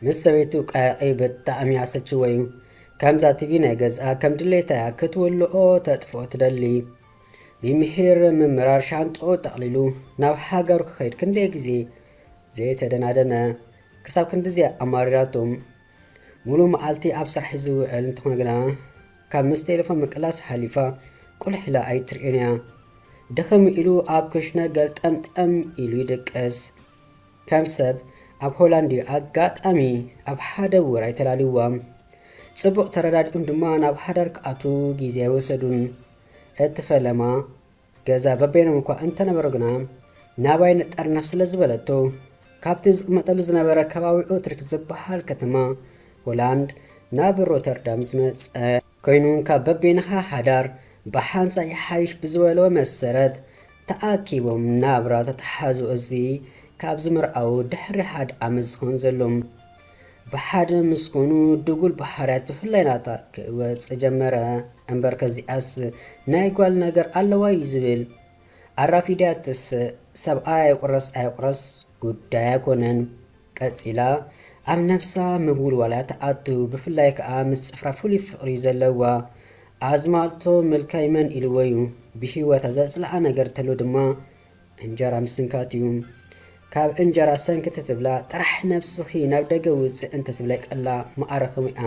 ምስ ሰበይቱ ቀሕቒ ብጣዕሚ ኣሰችወዩ ከምዛ ቲቪ ናይ ገዝኣ ከም ድሌታ እያ ክትውልኦ ተጥፍኦ ትደሊ ሚሚሒር ምምራር ሻንጥኡ ጠቕሊሉ ናብ ሃገሩ ክኸይድ ክንደይ ግዜ ዘይተደናደነ ክሳብ ክንድዚ ኣማሪራቶ ሙሉ መዓልቲ ኣብ ስራሕ እዩ ዝውዕል እንተኾነ ግና ካብ ምስ ቴሌፎን ምቅላስ ሓሊፋ ቁልሕ ኢላ ኣይትርእዮን እያ ድኽም ኢሉ ኣብ ክሽነ ገልጠምጠም ኢሉ ይድቅስ ከም ሰብ ኣብ ሆላንድ እዩ ኣጋጣሚ ኣብ ሓደ ውራይ ተላልዩዎም ጽቡቕ ተረዳዲኡም ድማ ናብ ሃዳር ክኣትዉ ግዜ ኣይወሰዱን እቲ ፈለማ ገዛ በበይኖም እኳ እንተነበሩ ግና ናባይ ንጠርነፍ ስለ ዝበለቶ ካብቲ ዝቕመጠሉ ዝነበረ ከባቢ ኦትሪክ ዝበሃል ከተማ ሆላንድ ናብ ሮተርዳም ዝመጸ ኮይኑ ካብ በበይንኻ ሓዳር ብሓንሳእ ይሓይሽ ብዝበሎ መሰረት ተኣኪቦም ናብራ ተተሓዙ እዚ ካብ ዝምርዓዉ ድሕሪ ሓደ ዓመት ዝኸውን ዘሎም ብሓደ ምስ ኮኑ ድጉል ባህርያት ብፍላይ ናታ ክወጽእ ጀመረ እምበር ከዚኣስ ናይ ጓል ነገር ኣለዋ እዩ ዝብል ኣራፊድያትስ ሰብኣይ ኣይቁረስ ኣይቁረስ ጉዳይ ኣይኮነን ቀጺላ ኣብ ነብሳ ምውልዋላት ትኣቱ ብፍላይ ከኣ ምስ ጽፍራ ፍሉይ ፍቅሪ ዘለዋ ኣዝማልቶ ምልካይ መን ኢልዎዩ ብሂወታ ዘጽልኣ ነገር ተሎ ድማ እንጀራ ምስንካትዩ ካብ እንጀራ ሰንክት ትብላ ጥራሕ ነብስኪ ናብ ደገ ውጽእ እንተትብለቀላ ምኣረክምያ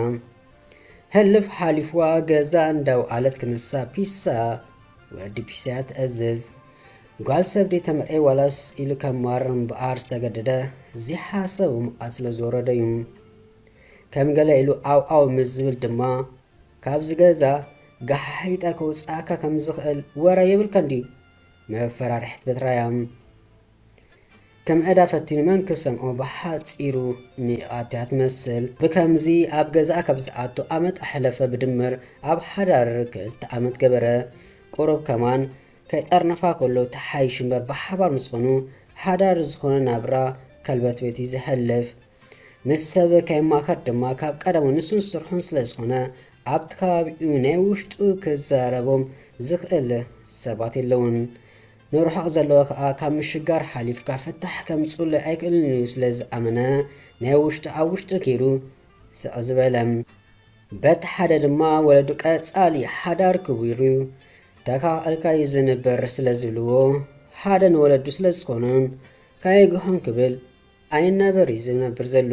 ህልፍ ሓሊፍዋ ገዛ እንዳውዓለት ክንሳ ፒሳ ወዲ ፒሳያ ትእዝዝ ጓል ሰብ ዲዩ ተምዕይ ዋላስ ኢሉ ከማርር እምበኣር ዝተገደደ ዘይሓሰቦ መዓት ስለ ዝወረዶ ዩ ከም ገለ ኢሉ ኣው ኣው ምስ ዝብል ድማ ካብዚ ገዛ ጋሓሒጠ ከውጽኣካ ከም ዝኽእል ወረ የብልካን ዲዩ መፈራርሕት በትራያ ከም ዕዳ ፈቲኑ መን ክሰምዖ ብሓጺሩ ኒቓት'ያ ትመስል። ብከምዚ ኣብ ገዛኣ ካብ ዝኣቱ ዓመት ኣሕለፈ ብድምር ኣብ ሓዳር ክልተ ዓመት ገበረ። ቁሩብ ከማን ከይጠርነፋ ከሎ ተሓይሹ'ምበር ብሓባር ምስ ኾኑ ሓዳር ዝኾነ ናብራ ከልበትቤት'ዩ ዘሕልፍ። ምስ ሰብ ከይማኸር ድማ ካብ ቀደሙ ንሱን ስርሑን ስለ ዝኾነ ኣብቲ ከባቢኡ ናይ ውሽጡ ክዛረቦም ዝኽእል ሰባት የለዉን። ንርሑቕ ዘለወ ከኣ ካብ ምሽጋር ሓሊፍካ ፍታሕ ከምጽኡለይ ኣይክእልን ኢሉ ስለ ዝኣመነ ናይ ውሽጡ ኣብ ውሽጡ ጌሩ ስቕ ዝበለ። በቲ ሓደ ድማ ወለዱ ቀጻሊ ሓዳር ክቡር'ዩ ተካእልካ'ዩ ዝንበር ስለ ዝብልዎ ሓደ ንወለዱ ስለ ዝኾኑን ካየግሖም ክብል ኣይናበር'ዩ ዝነብር ዘሎ።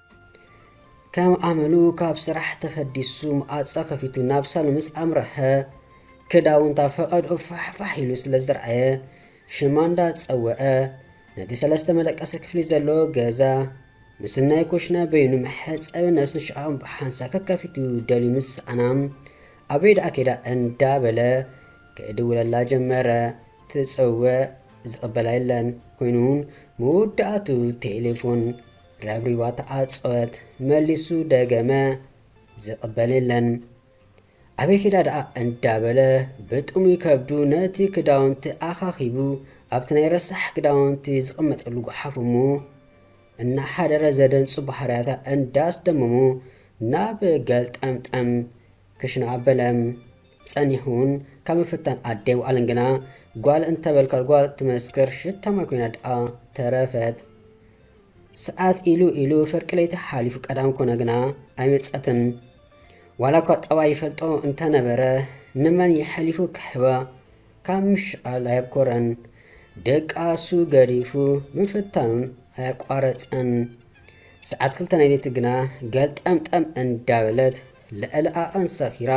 ከም ኣመሉ ካብ ስራሕ ተፈዲሱ ማዕጾ ከፊቱ ናብ ሳሎን ምስ ኣምረሐ ክዳውንታ ፈቐድኡ ፋሕ ፋሕ ኢሉ ስለ ዝረኣየ ሽማ እንዳ ጸወዐ ነቲ ሰለስተ መደቀሲ ክፍሊ ዘለዎ ገዛ ምስ ናይ ኩሽና በይኑ መሕጸቢ ነብስን ሽቓቕን ብሓንሳ ከከፊቱ ደልዩ ምስ ሰኣና ኣበይ ደኣ ከይዳ እንዳበለ ክእድውለላ ጀመረ ትጽውዕ ዝቕበላ የለን ኮይኑ መወዳእቱ ቴሌፎን ረብሪባ ተዓጸወት መሊሱ ደገመ ዝቅበል የለን ኣበይ ኬዳ ደኣ እንዳበለ ብጥሙይ ከብዱ ነቲ ክዳውንቲ ኣኻኺቡ ኣብቲ ናይ ረሳሕ ክዳውንቲ ዝቅመጠሉ ጉሓፍ እሞ እናሓደረ ዘደንጹ ባህርያታ እንዳስደመሙ ናብ ገልጠምጠም ክሽና ኣበለ ጸኒሑን ካብ ምፍታን ኣደ ይውዓልን ግና ጓል እንተበልካ ጓል ትመስክር ሽታማይ ኮይና ደኣ ተረፈት ሰዓት ኢሉ ኢሉ ፍርቂ ለይቲ ሓሊፉ ቀዳም ኮነ ግና ኣይመጸትን። ዋላ እኳ ጠባይ ይፈልጦ እንተ ነበረ ንመን የሕሊፉ ክህባ ካብ ምሽቓል ኣየብኮረን። ደቃሱ ገዲፉ ምፍታኑን ኣየቋረጸን። ሰዓት ክልተ ናይ ለይቲ ግና ገልጠምጠም እንዳ በለት ልዕሊ ዓቐን ሰኺራ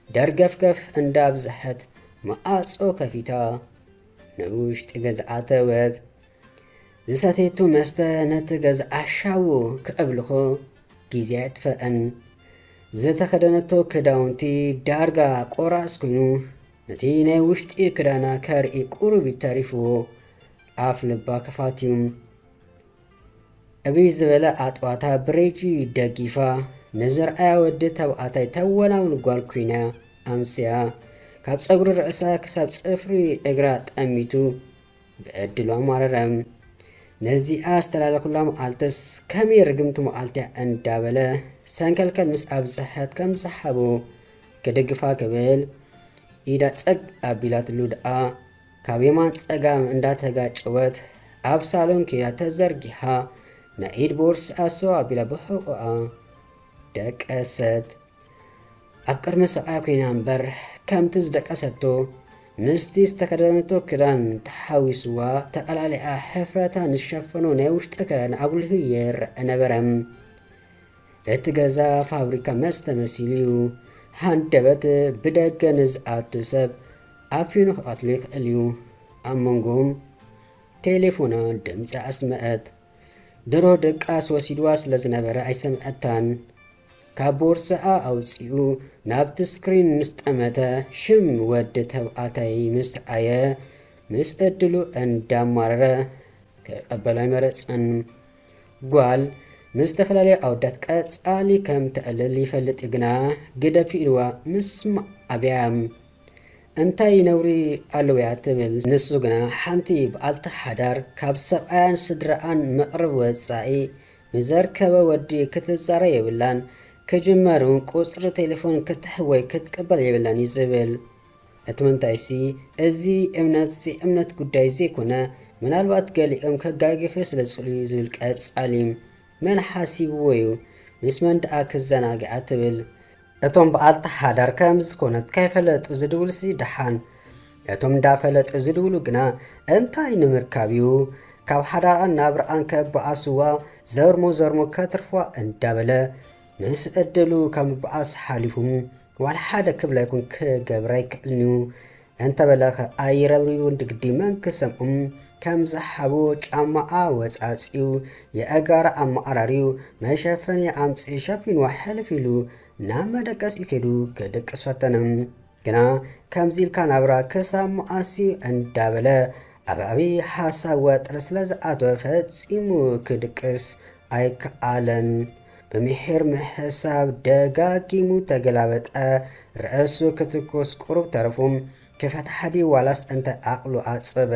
ደርገፍገፍ እንዳ ብዝሐት መኣጾ ከፊታ ንውሽጢ ገዝኣ ኣተወት። ዝሰተየቶ መስተ ነቲ ገዝኣ ሻዉ ክዕብልኾ ግዜ ኣየጥፈኣን። ዝተኸደነቶ ክዳውንቲ ዳርጋ ቆራስ ኮይኑ ነቲ ናይ ውሽጢ ክዳና ከርኢ ቁሩብ እዩ ተሪፍዎ። ኣፍ ልባ ክፋት እዩ። ዕብይ ዝበለ ኣጥባታ ብሬጂ ደጊፋ ንዝርኣያ ወዲ ተባዕታይ ተወናውን ጓል ኮይና ኣምስያ። ካብ ጸጉሪ ርእሳ ክሳብ ጽፍሪ እግራ ጠሚቱ ብዕድሉ ኣማረረ። ነዚኣ ዝተላለኹላ መዓልትስ ከመይ ርግምቲ መዓልቲያ እንዳበለ ሰንከልከል ምስ ኣብዝሐት ከም ዝሰሓቡ ክድግፋ ክብል ኢዳ ጸግ ኣቢላትሉ ደኣ ካብ የማን ጸጋም እንዳተጋጨወት ኣብ ሳሎን ኬዳ ተዘርጊሓ ናይ ኢድ ቦርስኣ ሰው ኣቢላ ብሕቆኣ ደቀሰት። ኣብ ቅድሚ ሰብኣያ ኰይና እምበር፣ ከምቲ ዝደቀሰቶ ምስቲ ዝተኸደነቶ ክዳን ተሓዋዊስዋ፣ ተቓላሊዓ፣ ሕፍረታ ንዝሸፈኖ ናይ ውሽጢ ክዳን ኣጕሊሁ ይረኣ ነበረ። እቲ ገዛ ፋብሪካ መስተ መሲሉ እዩ። ሃንደበት ብደገ ንዝኣቱ ሰብ ኣፊኑ ክቐትሎ ይኽእል እዩ። ኣብ መንጎም ቴሌፎና ድምጺ ኣስመዐት። ድሮ ድቃስ ወሲድዋ ስለ ዝነበረ ኣይሰምዐታን። ካብ ቦርሳኣ ኣውጺኡ ናብቲ ስክሪን ምስ ጠመተ ሽም ወዲ ተብኣታይ ምስ ኣየ ምስ እድሉ እንዳማረረ ክቀበሎ ኣይመረጸን። ጓል ምስ ዝተፈላለዩ ኣወዳት ቀጻሊ ከም ተዕልል ይፈልጥ እዩ ግና ግደፊ ኢልዋ ምስ ኣብያ እንታይ ነውሪ ኣለውያ ትብል ንሱ ግና ሓንቲ ብኣልቲ ሓዳር ካብ ሰብኣያን ስድራኣን መቅርብ ወጻኢ ንዘርከበ ወዲ ክትዛረ የብላን ክጅመር ውን ቁጽሪ ቴሌፎን ክትሕብ ወይ ክትቅበል የብላን እዩ ዝብል እቲ ምንታይሲ እዚ እምነት ዘይእምነት ጉዳይ ዘይኮነ ምናልባት ገሊኦም ከጋግፍዮ ስለ ዝኽእሉ እዩ ዝብል ቀጻሊ መን ሓሲብዎ እዩ ምስ መን ደኣ ክዘናግዓ ትብል እቶም ብኣልታ ሓዳር ከም ዝኾነት ከይፈለጡ ዝድውሉሲ ደሓን፣ እቶም እንዳፈለጡ ዝድውሉ ግና እንታይ ንምርካብ እዩ ካብ ሓዳራን ናብርኣን ከበኣስዋ ዘርሞ ዘርሞ ከትርፍዋ እንዳበለ ምስ እድሉ ካብ ምበኣስ ሓሊፉ ዋላ ሓደ ክብላ ይኹን ክገብራ ኣይክእልንዩ። እንተበለ ከኣ ይረብሪቡ እንድግዲ መን ክሰምዖም ከምዝሓቡ ጫማኣ ወጻጺኡ የእጋራ ኣመዓራርዩ መሸፈኒኣ ኣምጺኡ ሸፊንዋ ሕልፍ ኢሉ ናብ መደቀሲኡ ከይዱ ክድቅስ ፈተነ ግና ከምዚ ኢልካ ናብራ ክሳብ መኣስዩ እንዳበለ ኣብ ዓብዪ ሓሳብ ወጥሪ ስለዝኣተወ ፈጺሙ ክድቅስ ኣይከኣለን። ብምሒር ምሕሳብ ደጋጊሙ ተገላበጠ፣ ርእሱ ክትኩስ ቁሩብ ተረፉ። ክፈትሓ ድዩ ዋላስ እንታይ ዓቕሉ ኣጸበ።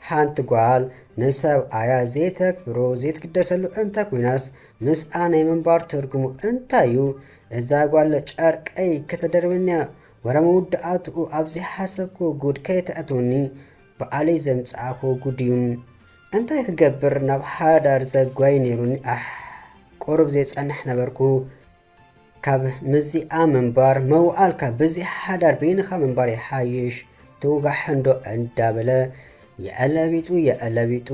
ሓንቲ ጓል ንሰብኣያ ዘይተክብሮ ዘይትግደሰሉ እንተ ኮይናስ ምስኣ ናይ ምንባር ትርጉሙ እንታይ'ዩ። እዛ ጓል ጨርቀይ ከተደርበኒ'ያ ወረ መውዳእትኡ ኣብ ዘይሓሰብክዎ ጉድ ከየተእትወኒ በዓለይ ዘምጻእክዎ ጉድ'ዩ። እንታይ ክገብር ናብ ሓዳር ዘጓይ ነይሩኒ ኣሕ ቁሩብ ዘይጸንሕ ነበርኩ ካብ ምዚኣ ምንባር መዋኣልካ ብዚ ሓዳር በይንኻ ምንባር ይሓይሽ ትውጋሕንዶ እንዳበለ የዕለቢጡ የዕለቢጡ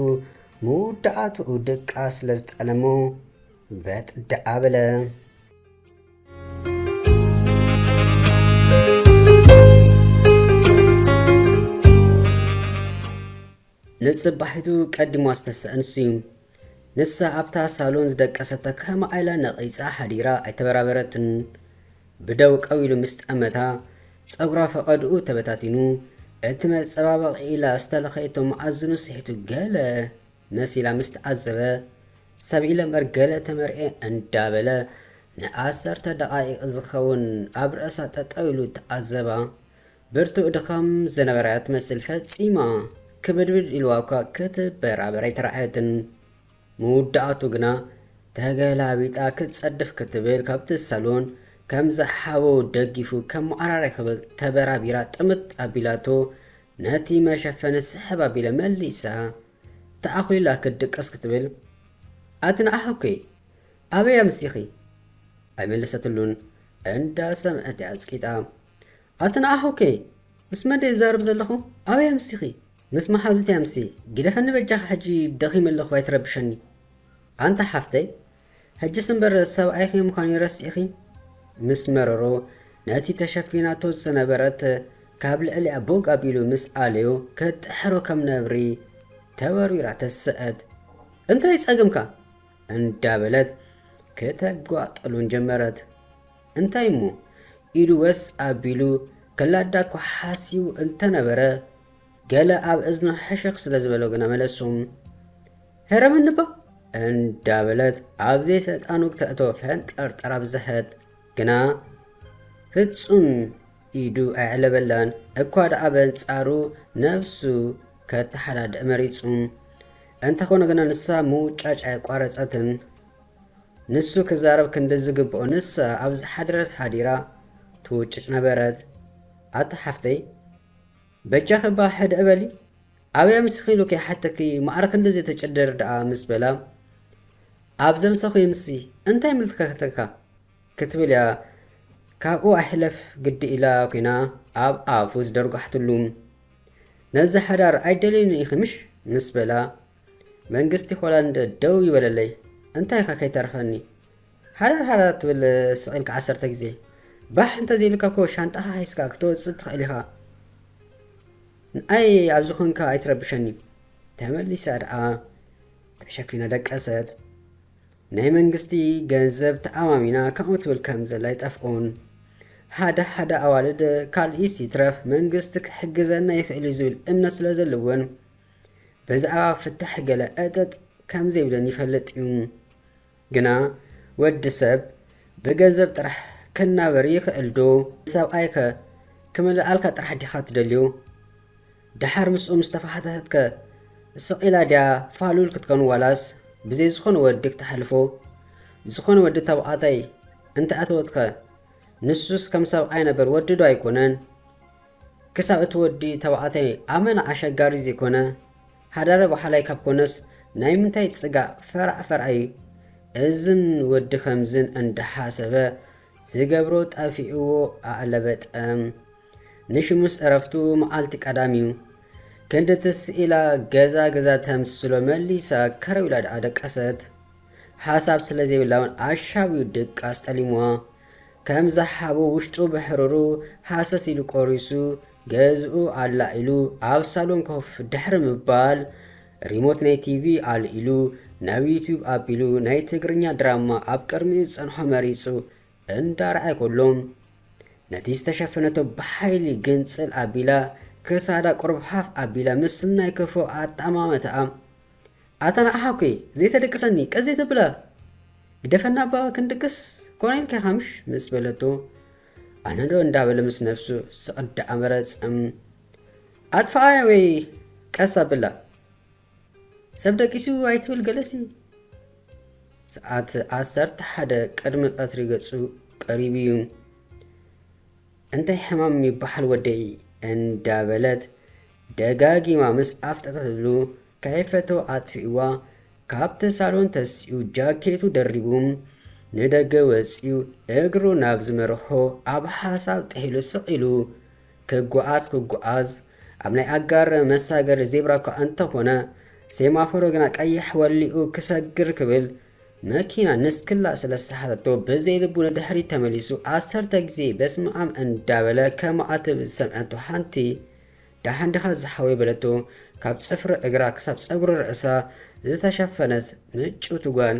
ምውዳኣትኡ ድቃስ ስለ ዝጠለሞ በጥ ደኣ በለ። ንጽባሒቱ ቀዲማ ዝተሰኣን ስዩም፣ ንሳ ኣብታ ሳሎን ዝደቀሰት ተካማ ኢላ ነቒጻ ሓዲራ ኣይተበራበረትን። ብደው ቀው ኢሉ ምስ ጠመታ፣ ጸጉራ ፈቐድኡ ተበታቲኑ፣ እቲ መጸባበቒ ኢላ ዝተለኸየቶ መኣዝኑ ስሒቱ ገለ መሲላ ምስ ተዓዘበ፣ ሰብ ኢለ'ምበር ገለ ተመርዕየ እንዳበለ ንዓሰርተ ደቓይቕ ዝኸውን ኣብ ርእሳ ጠጠው ኢሉ ተዓዘባ። ብርቱእ ድኻም ዝነበራ ትመስል ፈጺማ ክብድብድ ኢልዋ እኳ ክትበራበር ኣይተራእየትን። መውዳእቱ ግና ተገላቢጣ ክትጸድፍ ክትብል ካብቲ ሳሎን ከም ዝሓቦ ደጊፉ ከም መዓራሪ ክብል ተበራቢራ ጥምት ኣቢላቶ ነቲ መሸፈኒ ስሕብ ኣቢለ መሊሳ ተኣኹሊላ ክትድቅስ ክትብል ኣቲ ንዓኹኪ ኣበይ ኣምሲኺ ኣይመለሰትሉን እንዳ ሰምዐት እያ ኣጽቂጣ። ኣቲ ንኣሁ ከ ምስ መን ድየ ዝዛረብ ዘለኹ ኣበይ ኣምሲኺ ምስ መሓዙተይ ኣምሲ ግደፈኒ በጃኺ ሕጂ ደኺመ ኣለኹ ኣይትረብሸኒ ኣንቲ ሓፍተይ ሕጅስ እምበር ሰብኣይኺ ምዃኑ ረሲዕኺ ምስ መረሮ ነቲ ተሸፊናቶ ዝነበረት ካብ ልዕሊኣ ቦግ ኣቢሉ ምስ ኣለዮ ከጥሕሮ ከም ነብሪ ተወርዊራ ተሰአት እንታይ ጸገምካ እንዳበለት ከተጓጥሉን ጀመረት እንታይ እሞ ኢዱ ወስ ኣቢሉ ከላዳ እኳ ሓሲቡ እንተ ነበረ፣ ገለ ኣብ እዝኑ ሕሽኽ ስለ ዝበሎ ግና መለሱ፣ ህረመኒባ! እንዳ በለት ኣብ ዘይሰልጣኑ ክተእቶ ፈንጠርጠር ኣብዘሐት፣ ግና ፍጹም ኢዱ ኣየዕለበላን፣ እኳ ደኣ በንጻሩ ነብሱ ከተሓዳድእ መሪጹ። እንተ ኾነ ግና ንሳ ምውጫጭ ኣየቋረጸትን። ንሱ ክዛረብ ክንዲ ዝግብኦ ንሳ ኣብ ዝሓደረት ሓዲራ ትውጭጭ ነበረት። ኣታ ሓፍተይ በጃኺ እባ ሕድዒ በሊ ኣበይ ኣምሲኺ ኢሉ ከይሓተኪ ማዕረ ክንድዚ ትጭድር ደኣ ምስ በላ ኣብ ዘምሰኹ ይምሲ እንታይ ይምልከተካ ክትብል እያ ካብኡ ኣይሕለፍ ግዲ ኢላ ኲና ኣብ ኣፉ ዝደርጓሕትሉ ነዚ ሓዳር ኣይደልዩን ኢኺ ምሽ ምስ በላ መንግስቲ ሆላንድ ደው ይበለለይ እንታይ ኢካ ከይተረፈኒ ሃረር ሃረር ትብል ስቅ ኢልካ ዓሰርተ ግዜ ባሕ እንተዘይሉካ እኮ ሻንጣካ ሒዝካ ክትወጽእ ትክእል ኢካ ንኣይ ኣብዚ ኮንካ ኣይትረብሸኒ ተመሊሳ ደኣ ተሸፊና ደቀሰት ናይ መንግስቲ ገንዘብ ተኣማሚና ከምኡ ትብል ከም ዘላ ይጠፍኡን ሓደ ሓደ ኣዋልድ ካልኢስ ይትረፍ መንግስቲ ክሕግዘና ይኽእል እዩ ዝብል እምነት ስለ ዘለወን በዛዕባ ፍታሕ ገለ ዕጥጥ ከም ዘይብለን ይፈልጥ እዩ። ግና ወዲ ሰብ ብገንዘብ ጥራሕ ክናበር ይኽእል ዶ? ንሰብኣይ ከ ክምልኣልካ ጥራሕ ዲኻ ትደልዮ? ደሓር ምስኡ ምስ ተፋሓተተት ከ ስቕ ኢላ ድያ ፋሉል ክትከውን ዋላስ ብዘይ ዝኾነ ወዲ ክተሕልፎ? ዝኾነ ወዲ ተባዕታይ እንተ ኣተወት ከ ንሱስ ከም ሰብኣይ ነበር ወዲ ዶ ኣይኮነን? ክሳብ እቲ ወዲ ተባዕታይ ኣመና ኣሸጋሪ ዘይኮነ ሃዳረ ባሓላይ ካብ ኮነስ ናይ ምንታይ ጽጋእ ፈራዕ ፈርኣይ እዝን ወዲ ከምዝን እንዳሓሰበ ዝገብሮ ጠፊእዎ ኣዕለበ ጠም ንሽሙስ እረፍቱ ማዓልቲ ቀዳም እዩ ክንዲ ትስ ኢላ ገዛ ገዛ ተምስሎ መሊሳ ከረው ኢላ ድኣ ደቀሰት ሓሳብ ስለዘይብላ ውን ኣሻብዩ ድቃስ ጠሊምዋ ከም ዝሃቦ ውሽጡ ብሕሩሩ ሃሰስ ኢሉ ቆሪሱ ገዝኡ ኣላ ኢሉ ኣብ ሳሎን ኮፍ ድሕሪ ምባል ሪሞት ናይ ቲቪ ኣልኢሉ ናብ ዩቱብ ኣቢሉ ናይ ትግርኛ ድራማ ኣብ ቅድሚኡ ዝጸንሖ መሪጹ እንዳርኣየ ከሎ ነቲ ዝተሸፈነቶ ብሓይሊ ግንጽል ኣቢላ ክሳዳ ቁሩብ ሃፍ ኣቢላ ምስናይ ክፉእ ኣጠማምታኣ ኣታ ንዓኻ'ኮ እየ ዘይተደቅሰኒ ቀስ ዘይተብላ ግደፈና እባ ክንድቅስ ኮነ ኢልካ'ኻ ምሽ ምስ በለቶ ኣነዶ እንዳበለ ምስ ነብሱ ስቕ እንዳኣመረ ጽም ኣጥፍኣያ ወይ ቀስ ኣብላ ሰብ ደቂሱ ኣይትብል ገለሲ ሰዓት ዓሰርተ ሓደ ቅድሚ ቀትሪ ገጹ ቀሪቡ እዩ። እንታይ ሕማም ይበሓል ወደይ እንዳበለት ደጋጊማ ምስ ኣፍጠጠትሉ ከይፈተወ ኣጥፊእዋ ካብቲ ሳሎን ተሲኡ ጃኬቱ ደሪቡ ንደገ ወጺኡ እግሩ ናብ ዝመርሖ ኣብ ሓሳብ ጥሒሉ ስቕ ኢሉ ክጓዓዝ ክጓዓዝ ኣብ ናይ ኣጋር መሳገሪ ዜብራ እኳ እንተኾነ ሴማፎሮ ግና ቀይሕ ወሊዑ ክሰግር ክብል መኪና ንስክላ ስለ ዝሰሓተቶ ብዘይ ልቡ ንድሕሪት ተመሊሱ ዓሰርተ ግዜ በስመኣም እንዳበለ ከማኣትብ ዝሰምዐቶ ሓንቲ ደሓን ዲኻ ዝሓወይ በለቶ ካብ ጽፍሪ እግራ ክሳብ ጸጉሪ ርእሳ ዝተሸፈነት ምጭውቲ ጓል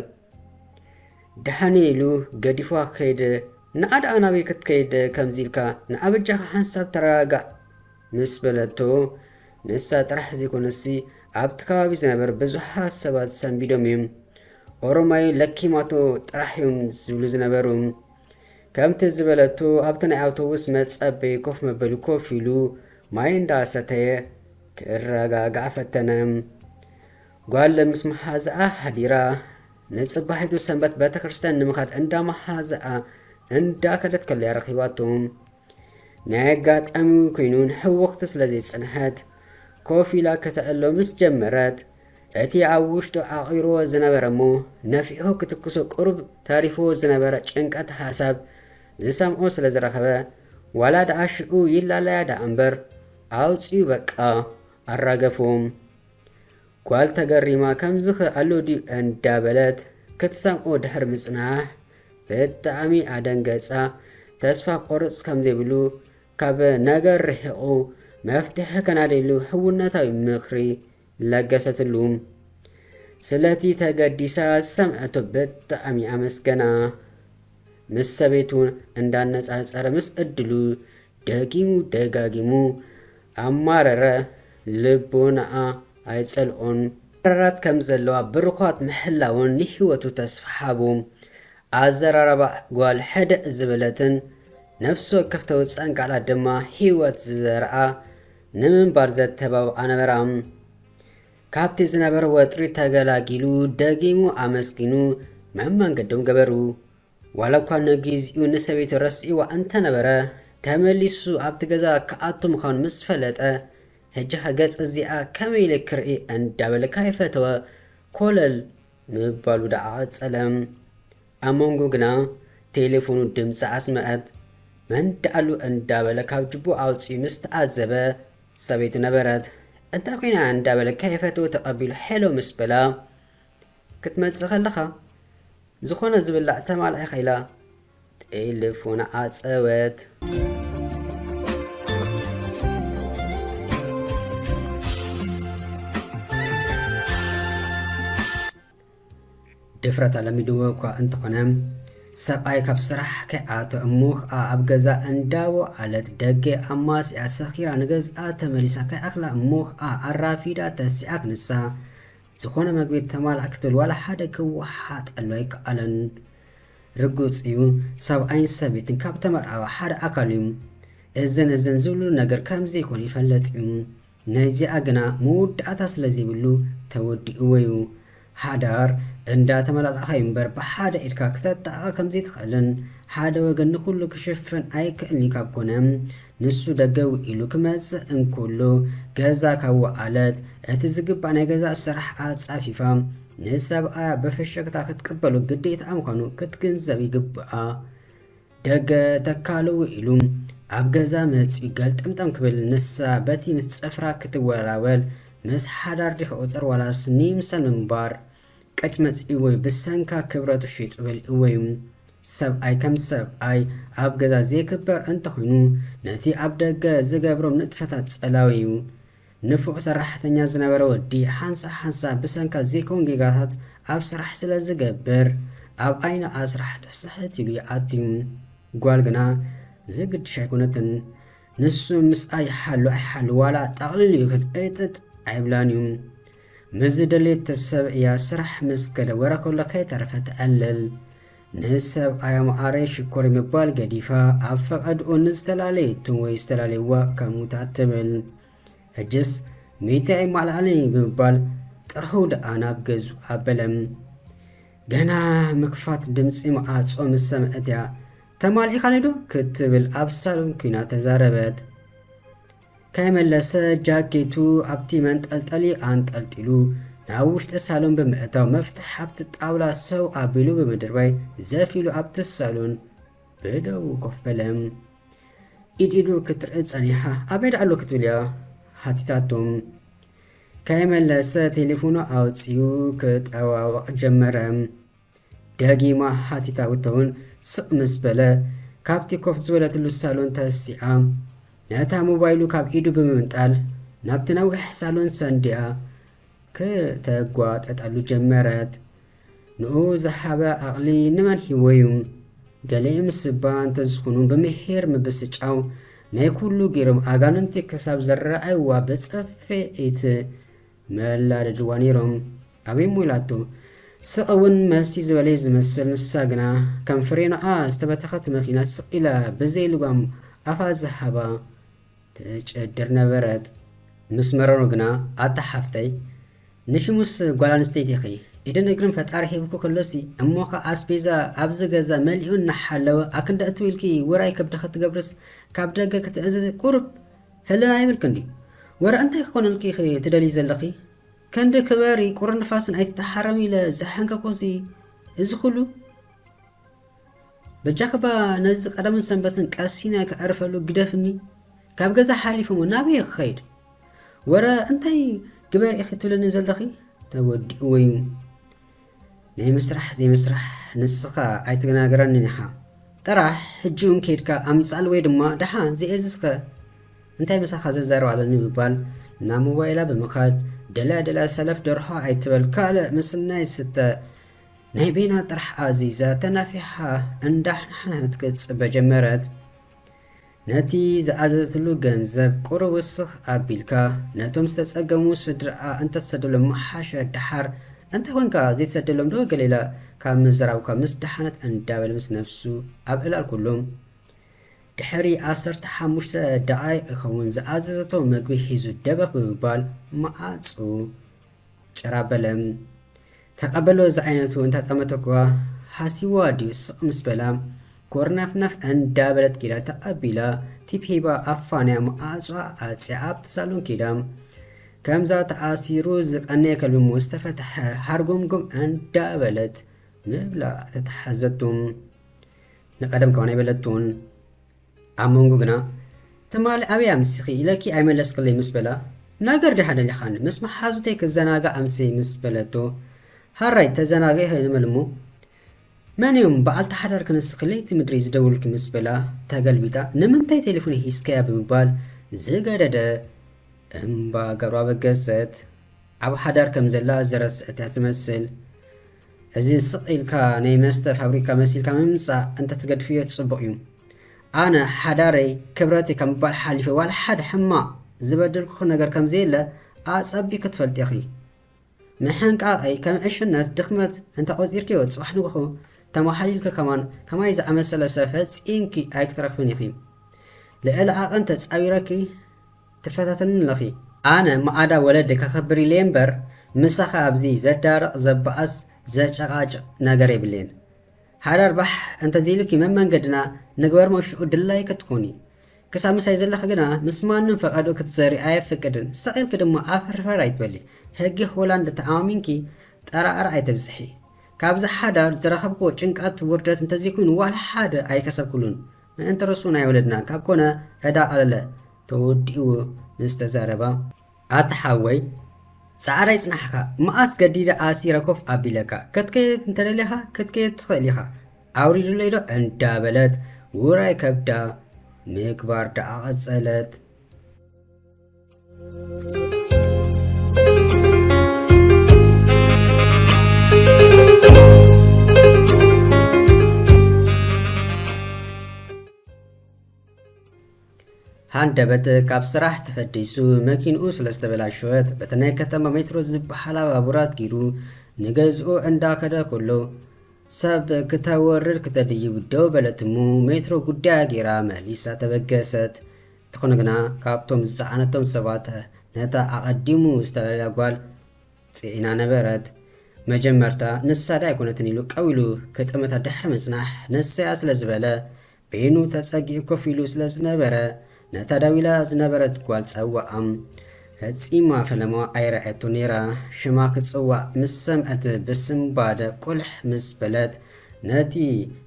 ደሓን ኢሉ ገዲፏ ከይደ ንዓ ደኣ ናበይ ክትከይድ ከምዚ ኢልካ ንዓ በጃኻ ሓንሳብ ተረጋጋእ ምስ በለቶ፣ ንሳ ጥራሕ ዘይኮነትሲ ኣብቲ ከባቢ ዝነበር ብዙሓት ሰባት ሰንቢዶም እዮም። ኦሮማይ ለኪማቶ ጥራሕ እዮም ዝብሉ ዝነበሩ። ከምቲ ዝበለቶ ኣብቲ ናይ ኣውቶቡስ መጸበይ ኮፍ መበሊ ኮፍ ኢሉ ማይ እንዳሰተየ ክረጋጋእ ፈተነ። ጓል ምስ መሓዝኣ ሓዲራ ንጽባሒቱ ሰንበት ቤተ ክርስቲያን ንምኻድ እንዳ መሓዝኣ እንዳከደት ከለያ ረኺባቶ። ናይ ኣጋጣሚ እውን ኮይኑ ንሕውኽቲ ስለ ዘይጸንሐት፣ ኮፍ ኢላ ከተዕሎ ምስ ጀመረት፣ እቲ ኣብ ውሽጡ ዓቚሩዎ ዝነበረ እሞ ነፊሑ ክትኩሶ ቅሩብ ተሪፉዎ ዝነበረ ጭንቀት ሓሳብ ዝሰምዖ ስለ ዝረኸበ፣ ዋላ ደኣ ሽዑ ይላለያ ደኣ እምበር ኣውጺኡ በቃ ኣራገፎም። ጓል ተገሪማ ከምዚኸ ኣሎ ድዩ እንዳበለት ክትሰምዖ ድሕሪ ምጽናሕ ብጣዕሚ ኣደንገጻ። ተስፋ ክቆርጽ ከምዘይብሉ ካብ ነገር ርሒቑ መፍትሒ ከናድየሉ ሕውነታዊ ምኽሪ ለገሰትሉ። ስለቲ ተገዲሳ ዝሰምዐቶ ብጣዕሚ ኣመስገና። ምስ ሰበይቱ እንዳነጻጸረ ምስ ዕድሉ ደጊሙ ደጋጊሙ ኣማረረ ልቦናኣ ኣይጸልኦን። ኣራራት ከም ዘለዋ ብርዃት ምሕላውን ንሕይወቱ ተስፋ ሃቡ። ኣዘራርባ ጓል ሕድእ ዝበለትን ነፍሲ ወከፍ ተውጽኣን ቃላት ድማ ሕይወት ዝዘርኣ ንምንባር ዘተባብዓ ነበራ። ካብቲ ዝነበረ ወጥሪ ተገላጊሉ ደጊሙ ኣመስጊኑ መመንገዶም ገበሩ። ዋላ እኳ ንግዜኡ ንሰበይቱ ረሲዕዋ እንተነበረ፣ ተመሊሱ ኣብቲ ገዛ ክኣቱ ምዃኑ ምስ ፈለጠ፣ ሕጂ'ኸ ገጽ እዚኣ ከመይ ኢለ ክርኢ እንዳበለ ካይፈተወ ኮለል ምባሉ ደኣ ቀጸለ። ኣብ መንጎ ግና ቴለፎኑ ድምጺ ኣስመዐት። መን ደኣሉ እንዳበለ ካብ ጅቡኡ ኣውጺኡ ምስ ተዓዘበ፣ ሰበይቱ ነበረት። እንታይ ኮይና እያ እንዳበለ ካይፈተወ ተቐቢሉ ሄሎ ምስ በላ፣ ክትመጽእ ከለኻ ዝኾነ ዝብላዕ ተማላኢኻ ኢላ ጤልፎና ዓጸወት። ድፍረት ኣለሚድዎ እኳ እንተኾነ ሰብኣይ ካብ ስራሕ ከይኣቶ እሞ ከዓ ኣብ ገዛ እንዳቦ ኣለት ደገ ኣማስያ ሰኺራ ንገዝኣ ተመሊሳ ከይኣኽላ እሞ ከዓ ኣራፊዳ ተሲኣ ክንሳ ዝኾነ መግቢ እተማልኣ ክትብል ዋላ ሓደ ክወሓጠሉ ኣይከኣለን። ርጉጽ እዩ ሰብኣይን ሰበይትን ካብ ተመርዓወ ሓደ ኣካል እዩ። እዘን እዘን ዝብልሉ ነገር ከም ዘይኮነ ይፈለጥ እዩ። ናይዚኣ ግና መወዳእታ ስለ ዘይብሉ ተወዲእዎ እዩ። ሓዳር እንዳ ተመላላእኻ እዩ እምበር ብሓደ ኢድካ ክተጣቕዕ ከም ዘይትኽእልን ሓደ ወገን ንኹሉ ክሽፍን ኣይክእልን እዩ ካብ ኮነ ንሱ ደገው ኢሉ ክመጽእ እንክሉ ገዛ ካብ ወዓለት እቲ ዝግባእ ናይ ገዛ ስራሕ ኣጻፊፋ ንሰብኣያ ብፍሽክታ ክትቅበሉ ግዴታኣ ምዃኑ ክትግንዘብ ይግብኣ። ደገ ተካልው ኢሉ ኣብ ገዛ መጺኡ ገልጠምጠም ክብል ንሳ በቲ ምስ ጽፍራ ክትወላወል ምስ ሓዳር ዲኺ ቁጽር ዋላስ ንይምሰል ምንባር ቀጭመጽ እወይ ብሰንካ ክብረቱ ሺጡ በል እወይ ሰብኣይ ከም ሰብኣይ ኣብ ገዛ ዘይክበር እንተኮይኑ ነቲ ኣብ ደገ ዝገብሮም ንጥፈታት ጸላዊ እዩ ንፉዕ ሰራሕተኛ ዝነበረ ወዲ ሓንሳእ ሓንሳእ ብሰንካ ዘይከውን ጌጋታት ኣብ ስራሕ ስለ ዝገብር ኣብ ዓይኒ ኣስራሕቱ ስሕት ኢሉ ይኣቱ እዩ ጓል ግና ዘግድሽ ኣይኮነትን ንሱ ምስኣ ይሓሉ ኣይሓሉ ዋላ ጠቕሊሉ ይክል እርጥጥ ኣይብላን እዩ ምስ ዝደልየቶ ሰብ እያ ስራሕ ምስ ከደወረ ከሎ ከይተረፈ ትዕልል። ንሰብኣያ መዓረይ ሽኮሪይ ምባል ገዲፋ ኣብ ፈቀድኡ ንዝተላለየቶ ወይ ዝተላለዩዋ ከሙታ ትብል። ሕጅስ ሚእተይ ኣይማልኣልን'ዩ ብምባል ጥርሑ ደኣ ናብ ገዝኡ ኣበለ። ገና ምክፋት ድምጺ መዓጾ ምስ ሰምዐት እያ ተማሊእካኒ'ዶ ክትብል ኣብ ሳሎን ኩይና ተዛረበት። ከይመለሰ ጃኬቱ ኣብቲ መንጠልጠሊ ኣንጠልጢሉ ናብ ውሽጢ ሳሎን ብምእታው መፍትሕ ኣብቲ ጣውላ ሰው ኣቢሉ ብምድርባይ ዘፍ ኢሉ ኣብቲ ሳሎን ብደዉ ኮፍ በለ። ኢድ ኢዱ ክትርኢ ጸኒሓ ኣበይ ደኣሉ ክትብል እያ ሓቲታቶ። ከይመለሰ ቴሌፎኑ ኣውጺኡ ክጠዋወቕ ጀመረ። ደጊማ ሓቲታ እቶ'ውን ስቕ ምስ በለ፣ ካብቲ ኮፍ ዝበለትሉ ሳሎን ተሲኣ፣ ነታ ሞባይሉ ካብ ኢዱ ብምምንጣል ናብቲ ነዊሕ ሳሎን ሰንዲኣ ክተጓጠጠሉ ጀመረት። ንኡ ዝሓበ ኣቕሊ ንመን ሂቦ'ዩ? ገሌ ምስባ እንተዝኹኑ ብምሒር ምብስጫው ናይ ኩሉ ጊርም ኣጋንንቲ ክሳብ ዝረኣይዋ ብጽፍዒት መላደድዋ ነይሮም ኣበይ እሞ ኢላቶ ስቅ ውን መልሲ ዝበለይ ዝመስል ንሳ ግና ከም ፍሬንኣ ዝተበተኸት መኪና ስቅ ኢላ ብዘይ ልጓም ኣፋ ዝሃባ ትጨድር ነበረት። ምስ መረሩ ግና ኣታ ሓፍተይ ንሽሙስ ጓል ኣንስተይቲ ኢኺ ኢድን እግርን ፈጣሪ ሂብኪ ከሎሲ እሞ ከ ኣስቤዛ ኣብዚ ገዛ መሊኡ እናሓለወ ኣክንዲ ኣእትው ኢልኪ ውራይ ከብድኺ ትገብርስ ካብ ደገ ክትእዝዚ ቁሩብ ሕልና የብልክን ድዩ ወረ እንታይ ክኮነልኪ ኢኪ ትደልዪ ዘለኪ ከንዲ ክበሪ ቁርን ንፋስን ኣይትተሓረሚ ኢለ ዘሐንከኩሲ እዚ ኩሉ በጃክባ ነዚ ቀደምን ሰንበትን ቀሲነ ከዕርፈሉ ግደፍኒ ካብ ገዛ ሓሊፈሞ ናበይ ክኸይድ ወረ እንታይ ግበሪ ኢኪ ትብልኒ ዘለኪ ተወዲእዎዩ ናይ ምስራሕ ዘይምስራሕ ንስኻ ኣይትናገረንን ኢኻ ጥራሕ ሕጂውን ከይድካ ኣምጽኣል ወይ ድማ ደሓን ዘየእዝዝከ እንታይ ምሳኻ ዝዛረብ ኣለኒ ምባል ናብ ሞባይላ ብምኻድ ደልያ ደልያ ሰለፍ ደርሖ ኣይትበል ካልእ ምስናይ ስተ ናይ ቤና ጥራሕ ኣዚዛ ተናፊሓ እንዳሕንሓነት ክትጽበ ጀመረት። ነቲ ዝኣዘዘትሉ ገንዘብ ቁሩብ ውስኽ ኣቢልካ ነቶም ዝተጸገሙ ስድርኣ እንተትሰደሎም ምሓሸ ደሓር እንታይ ኮንካ ዘይትሰደሎም ዶ ገለ ኢላ ካብ ምዝራብ'ኳ ምስ ደሓነት እንዳበለ ምስ ነብሱ ኣብ ዕላል ኩሉ ድሕሪ ዓሰርተ ሓሙሽተ ደቓይቕ ይኸውን ዝኣዘዘቶ መግቢ ሒዙ ደበኽ ብምባል መዓጹ ጭር ኣበለ። ተቐበሎ ዝዓይነቱ እንታጠመተኩዋ ሃሲዋ ድዩ ስቕ ምስ በላ ጎርናፍናፍ እንዳ በለት ኪዳ ተቐቢላ ቲፕ ሂባ ኣፋንያ መዓጹኣ ዓጽያ ኣብቲ ሳሎን ኪዳ ከምዛ ተኣሲሩ ዝቐነየ ከልቢ ምስ ተፈትሐ ሃርጎምጎም እንዳ በለት ምብላ ተታሓዘቱ ንቐደም ከማን ኣይበለቱን ኣብ መንጉ ግና ትማሊ ኣበይ ኣምሲኺ ኢለኪ ኣይመለስክለይ ምስ በላ ነገር ዲኻ ደሊኻኒ ምስ መሓዙተይ ክዘናጋዕ ኣምስየ ምስ በለቶ ሃራይ ተዘናጊዒ ከይንበል እሞ መን እዮም በዓልቲ ሓዳር ክንስኺ ለይቲ ምድሪ ዝደውልኪ ምስ በላ ተገልቢጣ ንምንታይ ቴሌፎን ሂዝካያ ብምባል ዝገደደ እምባ ገብረኣበገሰት ኣብ ሓዳር ከም ዘላ ዝረስዐት እያ ትመስል። እዚ ስቅ ኢልካ ናይ መስተ ፋብሪካ መሲልካ ምምጻእ እንተትገድፍዮ ጽቡቅ እዩ ኣነ ሓዳረይ ክብረተይ ካብ ምባል ሓሊፈ ዋላ ሓደ ሕማቅ ዝበደልኩኪ ነገር ከምዘየለ ኣጸቢቅኪ ትፈልጢ ኢኪ ምሕንቃቀይ ከም ዕሽነት ድክመት እንተቆጺርክዮ ጽባሕ ንግሆ ተማሓሊልኪ ከማን ከማይ ዝኣመሰለ ሰብ ፈጺምኪ ኣይክትረክብን ኢኪ ልዕሊ ዓቀን ተጻዊረኪ ትፈታተኒ ኣለኺ ኣነ ማኣዳ ወለዲ ከኽብር ኢለየ እምበር ምሳኺ ኣብዚ ዘዳርቕ ዘባእስ ዘጨቓጭቕ ነገር የብለይን ሓዳር ባሕ እንተዘይሉኪ መመንገድና ንግበርሞ ሽኡ ድላዪ ክትኮኒ ክሳብ ምሳይ ዘለኺ ግና ምስ ማንም ፈቓድኡ ክትዘሪ ኣየፍቅድን ሰቕ ኢልኪ ድማ ኣፈርፈር ኣይትበሊ ህጊ ሆላንድ ተኣማሚንኪ ጠራዕራዕ ኣይተብዝሒ ካብዚ ሓዳር ዝረኸብክዎ ጭንቃት ውርደት እንተዘይኮይኑ ዋላ ሓደ ኣይከሰብክሉን ምእንቲ ርሱ ናይ ወለድና ካብ ኮነ ዕዳ ቀለለ ተወዲኡ ምስ ተዛረባ። ኣታ ሓወይ ጻዕረይ ጽናሕካ መኣስ ገዲደ ኣሲረ ኮፍ ኣቢለካ ክትከይድ እንተደሊኻ ክትከይድ ትኽእል ኢኻ ኣውሪዱለይ ዶ እንዳበለት ውራይ ከብዳ ምግባር ደኣ ቀጸለት። ሃንደበት ካብ ስራሕ ተፈዲሱ መኪንኡ ስለ ዝተበላሸወት በቲ ናይ ከተማ ሜትሮ ዝበሃል ኣባቡራት ጊሩ ንገዝኡ እንዳኸደ ከሎ ሰብ ክተወርድ ክተድይብ ደው በለት እሞ ሜትሮ ጉዳያ ጌራ መሊሳ ተበገሰት። እንተኾነ ግና ካብቶም ዝጸዓነቶም ሰባት ነታ ኣቐዲሙ ዝተላለያ ጓል ጽዒና ነበረት። መጀመርታ ንሳ ዶ ኣይኮነትን ኢሉ ቀው ኢሉ ክጥምታ ድሕሪ ምጽናሕ ንሳ'ያ ስለ ዝበለ በይኑ ተጸጊዑ ኮፍ ኢሉ ስለ ዝነበረ ነታ ደው ኢላ ዝነበረት ጓል ጸውዓ። ፈጺማ ፈለማ ኣይርኣየቶን ነይራ። ሽማ ክጽዋዕ ምስ ሰምዐት ብስንባደ ቁልሕ ምስ በለት ነቲ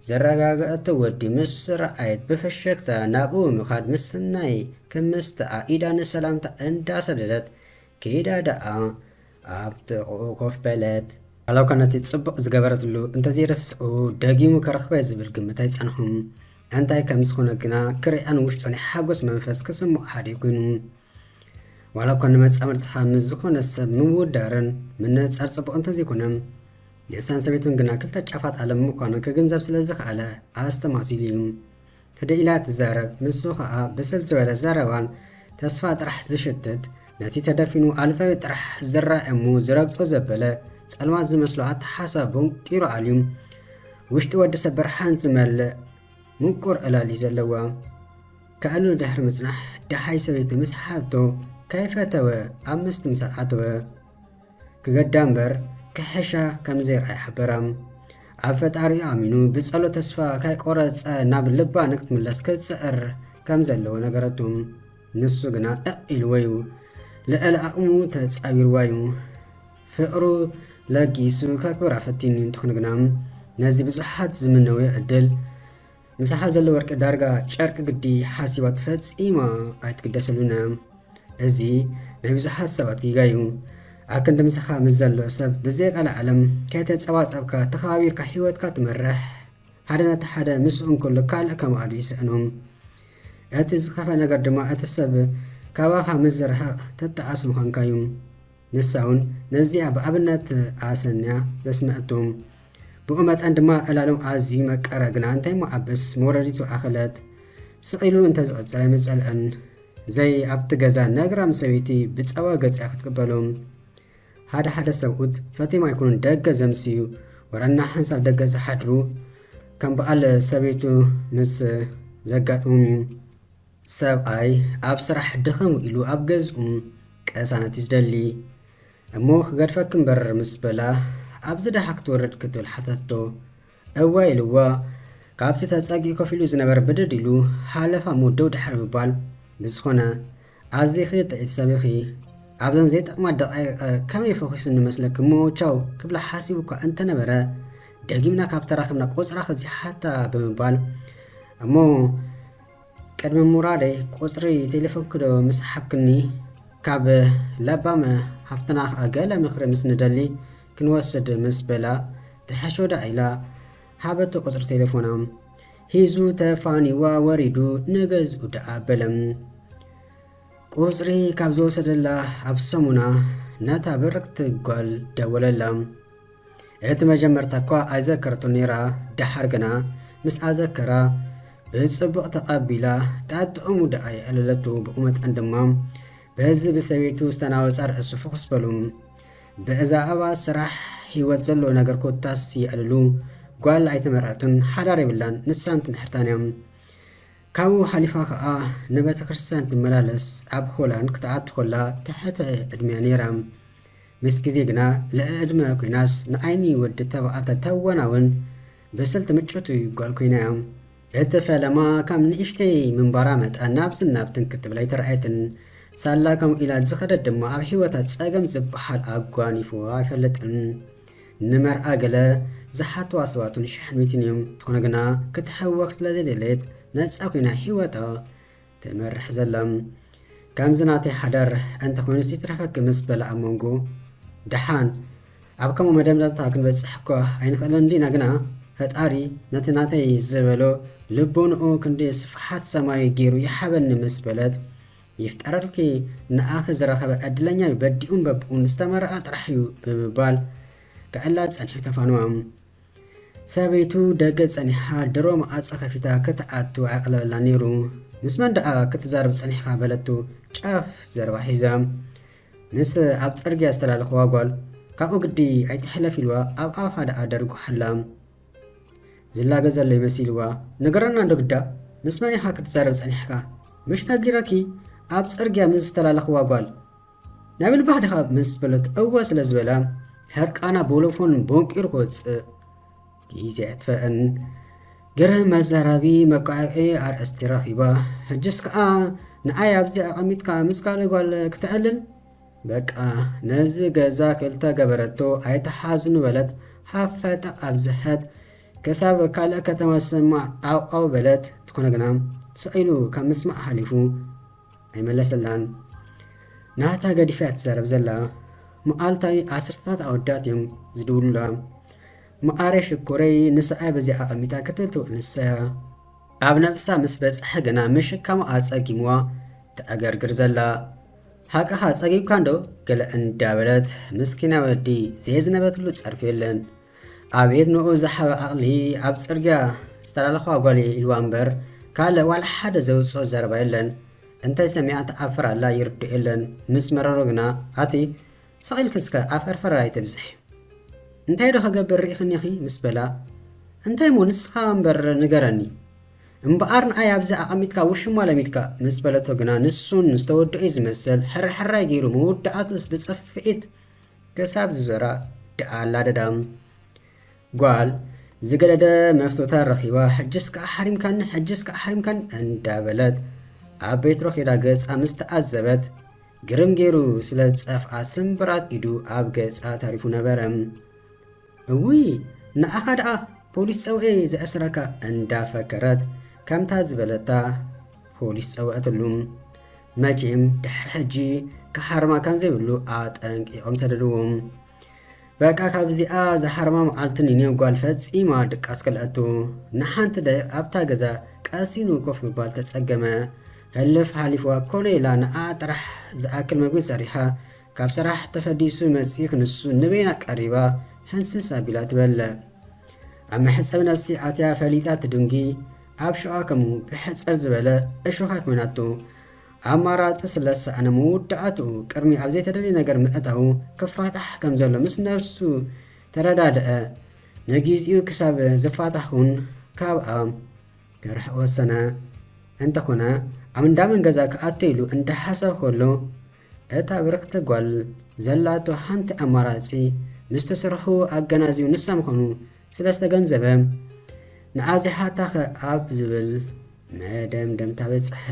ዘረጋገኣቶ ወዲ ምስ ረኣየት ብፍሽክታ ናብኡ ብምኻድ ምስናይ ክምስታ ኣኢዳ ንሰላምታ እንዳሰደደት ከይዳ ደኣ ኣብ ጥቕኡ ኮፍ በለት። ዋላኳ ነቲ ጽቡቕ ዝገበረትሉ እንተዘይረስዑ ደጊሙ ክረኽበየ ዝብል ግምት ኣይጸንሖን። እንታይ ከም ዝኾነ ግና ክርእያን ውሽጡ ናይ ሓጎስ መንፈስ ክስምዖ ሓዲሩ ኮይኑ። ዋላ እኳ ንመጻምድትኻ ምስ ዝኾነ ሰብ ምውዳርን ምንእጻር ጽቡቕ እንተዘይኮነ ንእሳን ሰበይቱን ግና ክልተ ጫፋት ዓለም ምዃኑ ክግንዘብ ስለ ዝኸኣለ ኣስተማሲሉ እዩ ህደእ ኢላ ትዛረብ ንሱ ኸኣ ብስል ዝበለ ዘረባን ተስፋ ጥራሕ ዝሽትት ነቲ ተደፊኑ ኣሉታዊ ጥራሕ ዝረኣ እሙ ዝረግጾ ዘበለ ጸልማት ዝመስሎ ኣተሓሳቦም ቂሩ ኣልዩ ውሽጢ ወዲ ሰብ ብርሃን ዝመልእ ምቁር ዕላል እዩ ዘለዋ ከዕልሉ ድሕሪ ምጽናሕ ደሃይ ሰበይቱ ምስ ሓቶ ከይፈተወ ኣብ ምስትምሳል ኣተወ። ክገዳ እምበር ክሕሻ ከም ዘይርኣይ ሓበራ። ኣብ ፈጣሪኡ ኣሚኑ ብጸሎት ተስፋ ከይቆረጸ ናብ ልባ ንክትምለስ ክጽዕር ከም ዘለዎ ነገረቱ። ንሱ ግና እቕ ኢልዎ እዩ። ልዕሊ ኣቕሙ ተጻዊርዋ እዩ። ፍቕሩ ለጊሱ ከክብራ ፈቲኑ እንትኹን ግና ነዚ ብዙሓት ዝምነውዮ ዕድል ምሳሓ ዘሎ ወርቂ ዳርጋ ጨርቂ ግዲ ሓሲባቶ ፈጺማ ኣይትግደሰሉን እያ እዚ ናይ ብዙሓት ሰባት ጊጋ እዩ ኣክንዲ ምሳኻ ምስ ዘሎ ሰብ ብዘይቃለ ዓለም ከይተጸባጸብካ ተኸባቢርካ ሂወትካ ትመርሕ ሓደ ነቲ ሓደ ምስኡ እንከሎ ካልእ ከማኣሉ ይስዕኖም እቲ ዝኸፈ ነገር ድማ እቲ ሰብ ካባኻ ምስ ዝርሕቕ ትጠዓስ ምዃንካ እዩ ንሳውን ነዚኣ ብኣብነት ኣሰንያ ዘስመዐቶ ብኡ መጠን ድማ ዕላሎም ኣዝዩ መቀረ ግና እንታይ እሞ ኣበስ መውረዲቱ ኣኸለት ስቕ ኢሉ እንተ ዝቕጽል ኣይምጸልዐን ዘይ ኣብቲ ገዛ ነግራም ሰበይቲ ብጸባ ገጽያ ክትቅበሎም ሓደ ሓደ ሰብኡት ፈቴም ኣይኮኑን ደገ ዘምስዩ ወረና ሓንሳብ ደገ ዝሓድሩ ከም በዓል ሰበይቱ ምስ ዘጋጥሞም እዩ ሰብኣይ ኣብ ስራሕ ድኽም ኢሉ ኣብ ገዝኡ ቀሳነት እዩ ዝደሊ እሞ ክገድፈኪ እምበር ምስ በላ ኣብዚ ደሓ ክትወርድ ክትብል ሓተትዶ እወ ኢልዋ ካብቲ ተጸጊኡ ኮፍ ኢሉ ዝነበረ ብድድ ኢሉ ሃለፋ እሞ ደው ድሕሪ ምባል ብዝኾነ ኣዚኺ ጥዒቲ ሰብ ኢኺ ኣብዘን ዘይጠቕማ ደቓይቕ ከመይ ፈኺሱኒ መስለኪ እሞ ቻው ክብላ ሓሲቡ እኳ እንተነበረ ደጊምና ካብ ተራኺብና ቁጽራኺ እዚ ሓታ ብምባል እሞ ቅድሚ ምውራደይ ቁጽሪ ቴሌፎንኪ'ዶ ምስ ሃብክኒ ካብ ለባም ሃፍትና ከኣ ገለ ምኽሪ ምስ ንደሊ ክንወስድ ምስ በላ ትሕሾ ደኣ ኢላ ሃበቶ ቁጽሪ ቴሌፎና። ሂዙ ተፋኒዋ ወሪዱ ንገዝኡ ደኣ በለ። ቁጽሪ ካብ ዝወሰደላ ኣብ ሰሙና ነታ ብርኽቲ ጓል ደወለላ። እቲ መጀመርታ እኳ ኣይዘከረቶን ነይራ፣ ደሓር ግና ምስኣ ዘከራ፣ ብጽቡቕ ተቐቢላ፣ ጣጥዕሙ ደኣ የዕለለቱ፣ ብቑመተን ድማ በዚ ብሰበይቱ ዝተናወጻ ርእሱ ፍኹስ በሉ። ብእዛእባ ስራሕ፣ ህይወት ዘለዎ ነገር ኮታስ የዕልሉ፣ ጓል ኣይተመርዐትን፣ ሓዳር የብላን፣ ንሳን ትምሕርታን እያ። ካብኡ ሓሊፋ ከኣ ንቤተ ክርስቲያን ትመላለስ፣ ኣብ ሆላንድ ክትኣቱ ከላ ትሕተ ዕድሜያ ነይራ። ምስ ግዜ ግና ልዕሊ ዕድመ ኩናስ ንዓይኒ ወዲ ተባዕተ ተወናውን ብስልቲ ምጭውቲ ጓል ኮይና'ያ። እቲ ፈለማ ካብ ንእሽተይ ምንባራ መጠን ናብዝን ናብትን ክትብል ኣይተራእየትን። ሳላ ከምኡ ኢላ ዝኸደት ድማ ኣብ ህይወታ ጸገም ዝበሃል ኣጓኒፍዋ ኣይፈልጥን። ንመርዓ ገለ ዝሓትዋ ሰባት'ውን ሸሕን ሚእትን እዮም። እንተኾነ ግና ክትሕወኽ ስለዘይደለየት ነጻ ኮይና ህይወታ ትመርሕ ዘላ ከምዚ ናተይ ሓዳር እንተኾይኑስ ይትረፈኪ ምስ በላ ኣብ መንጎ ደሓን ኣብ ከምኡ መደምደምታ ክንበፅሕ እኳ ኣይንኽእልን እንዲና ግና ፈጣሪ ነቲ ናተይ ዝበሎ ልቦንኡ ክንዲ ስፍሓት ሰማይ ገይሩ ይሓበኒ ምስ በለት ይፍጠረልኪ ንኣኺ ዝረኸበ ዕድለኛ እዩ በዲኡን በብኡን ዝተመረኣ ጥራሕ እዩ ብምባል ክዕላ ጸኒሑ ተፋንዋም ሰበይቱ ደገ ጸኒሓ ድሮ መዓጸ ከፊታ ክትኣቱ ኣየቕለለላን ነይሩ። ምስ መን ደኣ ክትዛረብ ጸኒሕካ በለቶ ጫፍ ዘረባ ሒዛ። ምስ ኣብ ጽርግያ ዝተላለኽዋ ጓል። ካብኡ ግዲ ኣይትሕለፍ ኢልዋ ኣብ ኣፋ ደኣ ደርጉሓላ። ዝላገ ዘሎ'ዩ መሲልዋ። ንገረና እንዶ ግዳ ምስ መን ኢኻ ክትዛረብ ጸኒሕካ? ምሽ ነጊረኪ ኣብ ጽርግያ ምስ ዝተላለኽዋ ጓል። ናብል ባህ ድኻብ ምስ በለት እወ ስለ ዝበለ ሕርቃና ቦሎፎን ቦንቂሩ ክወፅእ ግዜ ኣጥፈአን ገረ መዛራቢ መቃዕዒ ኣርእስቲ ረኺባ ሕጅስ ከዓ ንኣይ ኣብዚ ኣቐሚጥካ ምስ ካልእ ጓል ክተዕልል በቃ ነዚ ገዛ ክልተ ገበረቶ ኣይተሓዝኑ በለት ሓፈጠ ኣብዝሐት ከሳብ ካልእ ከተማ ዝሰማዕ ዓውዓው በለት ትኾነ ግና ስዒሉ ካብ ምስማዕ ሓሊፉ ኣይመለሰላን ናታ ገዲፋያ ትዛረብ ዘላ መዓልታዊ ዓስርተታት ኣወዳት እዮም ዝድውሉላ መዓረይ ሽኮረይ ንስዓይ በዚ ኣቐሚጣ ክትብል ትውዕል ንሳያ ኣብ ነብሳ ምስ በጽሐ ግና ምሽካሙ ኣጸጊምዋ ተዕገርግር ዘላ ሃቅኻ ጸጊብካ እንዶ ገለ እንዳበለት ምስኪና ወዲ ዘየዝነበትሉ ጸርፊ የለን ኣቤት ንኡ ዝሓበ ዓቕሊ ኣብ ጽርግያ ዝተላለኽዋ ጓል እየ ኢልዋ እምበር ካልእ ዋላ ሓደ ዘውጽኦ ዘረባ የለን እንታይ ሰሚዓ ትዓፍር ኣላ ይርድኦ የለን ምስ መረሮ ግና ኣቲ ስቕ ኢልኪ እስከ ዓፈርፈር ኣይተብዝሒ እንታይ ዶ ክገብር ርኢኽኒ ኢኺ ምስ በላ እንታይ እሞ ንስኻ እምበር ንገረኒ እምበኣር ንኣይ ኣብዚ ኣቐሚጥካ ውሽማ ለሚድካ ምስ በለቶ ግና ንሱን ዝተወድኦ ዝመስል ሕራሕራይ ገይሩ መወዳእቱስ ብጽፍኢት ክሳብ ዝዞራ ደኣ ላደዳ ጓል ዝገደደ መፍቶታ ረኺባ ሕጅስ ከኣ ሓሪምካኒ ሕጅስ ከኣ ሓሪምካኒ እንዳበለት ኣብ ቤትሮ ኼዳ ገጻ ምስ ተኣዘበት ግርም ገይሩ ስለ ዝጸፍኣ ስምብራት ኢዱ ኣብ ገጻ ተሪፉ ነበረ። እውይ ንዓኻ ድኣ ፖሊስ ጸውዔ ዝዕስረካ እንዳፈከረት ከምታ ዝበለታ ፖሊስ ጸውዐትሉ መቼም ድሕሪ ሕጂ ክሓርማ ከምዘይብሉ ኣጠንቂቆም ሰደድዎም በቃ ካብዚኣ ዝሓርማ መዓልቲ ንኔው ጓል ፈጺማ ድቃስ ከልኣቱ ንሓንቲ ደቂቕ ኣብታ ገዛ ቀሲኑ ኮፍ ምባል ተጸገመ ህልፍ ሓሊፍዋ ኮነ ኢላ ንኣ ጥራሕ ዝኣክል መግቢ ሰሪሓ ካብ ሰራሕ ተፈዲሱ መጺኡ ክንሱ ንበይና ቀሪባ ሕንስስ ኣቢላ ትበለ። ኣብ መሕጸብ ነብሲ ኣትያ ፈሊጣ ትድንጊ ኣብ ሸዋ ከምኡ ብሕጽር ዝበለ እሾኻ ኮይናቶ። ኣማራጺ ስለዝሰኣነ መውዳኣትኡ ቅድሚ ኣብ ዘይተደልየ ነገር ምእታዉ ክፋታሕ ከም ዘሎ ምስ ነብሱ ተረዳድኣ። ንጊዚኡ ክሳብ ዝፋታሕኩን ካብኣ ክርሕቕ ወሰነ። እንተኾነ ኣብ እንዳመን ገዛ ክኣቱ ኢሉ እንዳሓሰብ ከሎ እታ ብርክቲ ጓል ዘላቶ ሓንቲ ኣማራጺ ምስቲ ስርሑ ኣገናዚቡ ንሳ ምዃኑ ስለ ዝተገንዘበ ንኣዚሓታኸ ኣብ ዝብል መደምደምታ በጽሐ።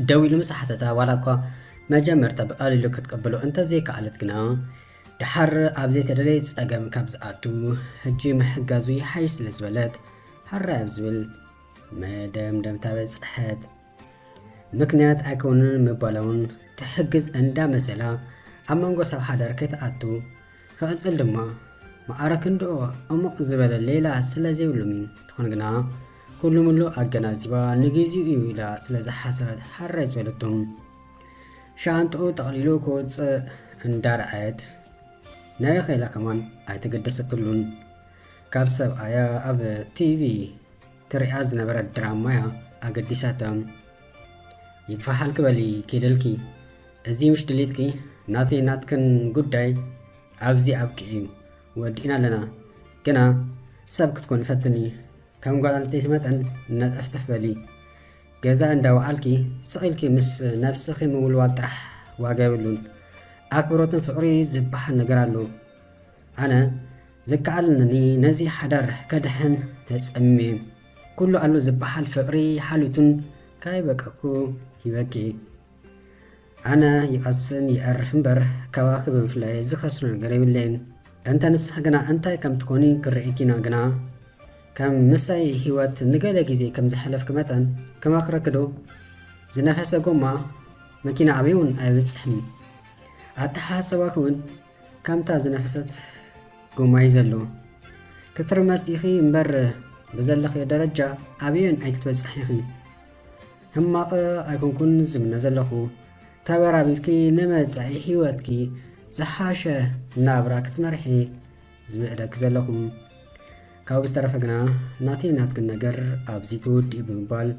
ደው ኢሉ ምስ ሓተታ ዋላ እኳ መጀመርታ ብቐሊሉ ክትቅብሎ እንተዘይከኣለት ግና ደሓር ኣብ ዘይተደለየ ጸገም ካብ ዝኣቱ ሕጂ ምሕጋዙ ይሓይሽ ስለ ዝበለት ሃራይ ኣብ ዝብል መደምደምታ በጽሐት። ምክንያት ኣይከውንን ምባላውን ትሕግዝ እንዳ መሰላ ኣብ መንጎ ሰብ ሓዳር ከይትኣቱ ክቕጽል ድማ መዓረ ክንድኡ ዕሙቕ ዝበለ ሌላ ስለ ዘይብሉም እዩ። ትኾን ግና ኩሉ ምሉ ኣገናዚባ ንግዜኡ እዩ ኢላ ስለ ዝሓሰበት ሃራይ ዝበለቶም ሻንጥኡ ጠቕሊሉ ክውፅእ እንዳረኣየት ናይኸ ኢላ ከማን ኣይተገደሰትሉን። ካብ ሰብኣያ ኣብ ቲቪ ትሪኣ ዝነበረት ድራማያ ኣገዲሳታ ይግፋሓልኪ በሊ ኪድልኪ እዚ ምሽ ድሊትኪ ናተይ ናትክን ጉዳይ ኣብዚ ኣብቅዕ እዩ ወዲእና ኣለና ግና ሰብ ክትኮን ፈትኒ ከም ጓል ኣንስተይቲ መጠን ነጠፍተፍ በሊ ገዛ እንዳ ወዓልኪ ስቅ ኢልኪ ምስ ነብስኪ ምውልዋል ጥራሕ ዋጋ የብሉን ኣክብሮትን ፍቅሪ ዝብሃል ነገር ኣሎ ኣነ ዝከኣለኒ ነዚ ሓዳር ከድሕን ተጸምሜ ኩሉ ኣሎ ዝብሃል ፍቅሪ ሓሉቱን ካይበቀኩ ሂበኪ ኣነ ይቐስን ይኣር እምበር ካባኺ ብምፍላየይ ዝኸስሮ ነገር የብለይን። እንተ ንስኺ ግና እንታይ ከም ትኮኒ ክርእይኪ ኢና ግና ከም ምሳይ ህይወት ንገለ ግዜ ከም ዘሕለፍኪ መጠን ክመኽረኪ ዶ ዝነፈሰ ጎማ መኪና ኣበይ እውን ኣይበጽሕን እዩ። ኣተሓሳስባኺ እውን ከምታ ዝነፈሰት ጎማ እዩ ዘሎ። ክትርመስ ኢኺ እምበር ብዘለኽዮ ደረጃ ኣበይን ኣይክትበጽሕን ኢኺ። ሕማቕ ኣይኮንኩን ዝምነ ዘለኹ፣ ተበራቢርኪ ንመጻኢ ሕይወትኪ ዝሓሸ ናብራ ክትመርሒ ዝምዕደኪ ዘለኹ። ካብኡ ብዝተረፈ ግና ናተይ ናትክን ነገር ኣብዚ ትውድእዩ ብምባል